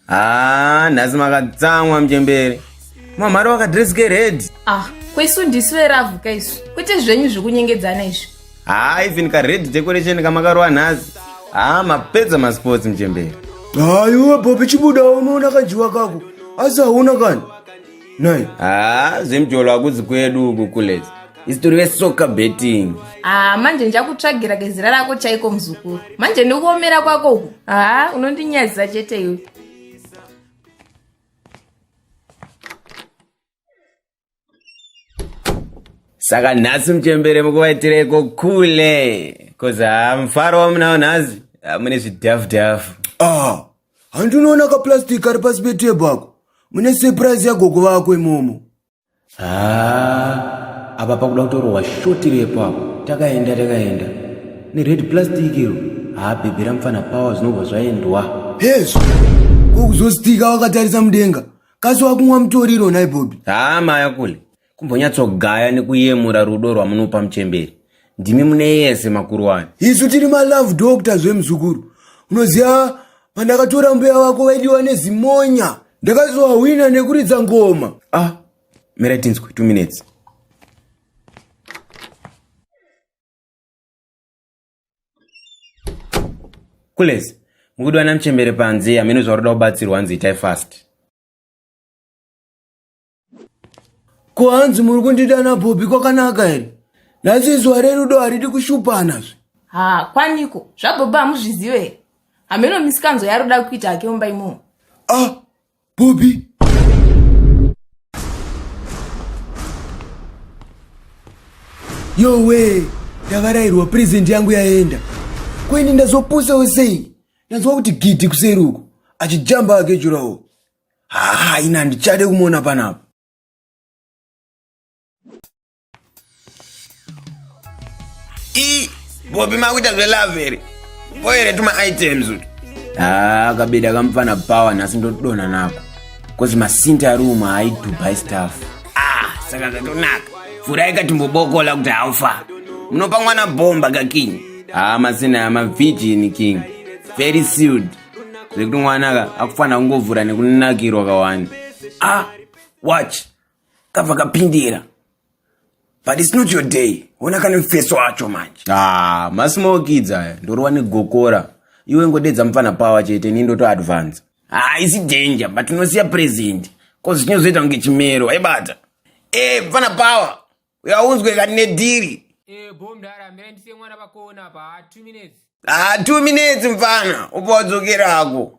haa ah, nhasi makatsamwa mchembere mamhari wakadreske red ah kwesu ndisu veravuka isu kwete zvenyu zvekunyengedzana izvi haa even ka red decoration kamakarova nhasi haa mapedza masports muchemberi haa iwe bobi chibuda unoona kanjiwa kako asi hauna kani nai haa zvemjolo hakudzi kwedu uku kules isitori vesoka betting haa manje ndichakutsvagira kezira rako chaiko muzukuru manje ndikuomera kwako uku haa unondinyadzisa chete iwe saka nhasi muchembere mukuvaitireiko kule bcoz haa mufaro wamunawo nhasi hamune zvidhafu dhafu ah handi unoona kaplastic ari pasi petebho ako mune surprise yagogo vako imomo haa apa pakuda kutorohwa shoti repo apo takaenda takaenda nered plastic iro haa bhebhera mupfana pawa zvinobva zvaendwa hezvo kokuzostika wakatarisa mudenga kasi wakumwa mutoriro nhai bobi haa maya kule kumbonyatsogaya nekuyemura rudo rwamunopa muchemberi ndimi mune yese makuru wani isu tiri malove doctor zvemuzukuru unoziva pandakatora mbuya wako vaidiwa nezimonya ndakazowahwina nekuridza ngoma ah mira tinzwe two minutes Kulezi, mukuda ana mchembere panze hameno zvaroda kubatsirwa hanzi itai fast. Ko hanzi muri kundida na Bobby kwakanaka here? Nhasi zuva rerudo haridi kushupana zve. Ha, kwaniko? Zvabobba hamuzvizive here? Hameno misikanzo yaroda kuita hake mumba imomo. Ah, Bobby. Yowe, ndavarairwa present yangu yaenda. Kweni ndazopusa usei. Ndanzwa kuti gidi kuseri uko. Achijamba ake jurawo. Haa, ina ndichade kumona panapa. i bobi makuita zvelove here voere tuma items uti haa ah, kabeda kamupfana power nhasi ndotodona nako bcause masinta ari umwe haidhubai staff ah saka zvatonaka vhurai katimbobokola kuti haufa munopa mwana bhomba kaking haa ah, masina ya mavhijini king very sealed zvekuti mwana ka akufanira kungovhura nekunakirwa kawani ah watch kava kapindira but it's not your day ona kane mfeso wacho manje ah masimokidza aya ndorova negokora iwe ngodedza mupfana power chete ni ndoto advance ah isi danger but unosiya present cause chinozoita kunge chimero aibata eh mupfana power uyaunzwe kani nedhiri eh bo mdara ambira ndisiye mwana vakoona apa ah, two minutes ah two minutes mfana upo wadzokerako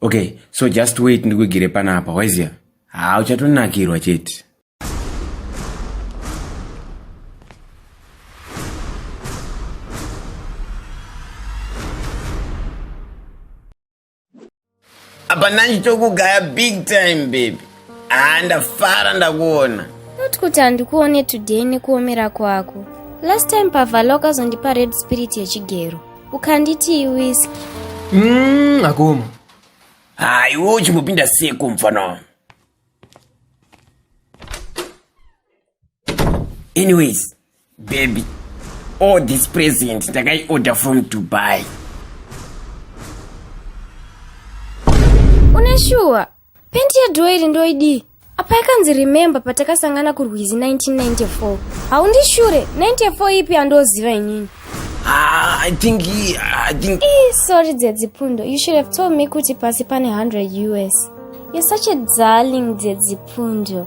okay so just wait ndikuigire panapa waizia haa uchatonakirwa chete apa nani tokugaya big time baby Ah, ndafara ndakuona. Not kuti handikuone today nekuomera kwako. Last time pavalo akazondipa red spirit yechigero. Ukanditi iwiski. Mm, akoma. Ah, iwe uchimbopinda seko mfana wangu. anyways baby all this present ndakaiorder from dubai une shuwa pendi yadhoiri ndoidii apa yakanzi remember patakasangana kurwizi 1994 haundishure 94 ipi andoziva inini Ah, I think he, I think Eh, sorry dzedzipundo you should have told me kuti pasi pane 100 us you're such a darling dzedzipundo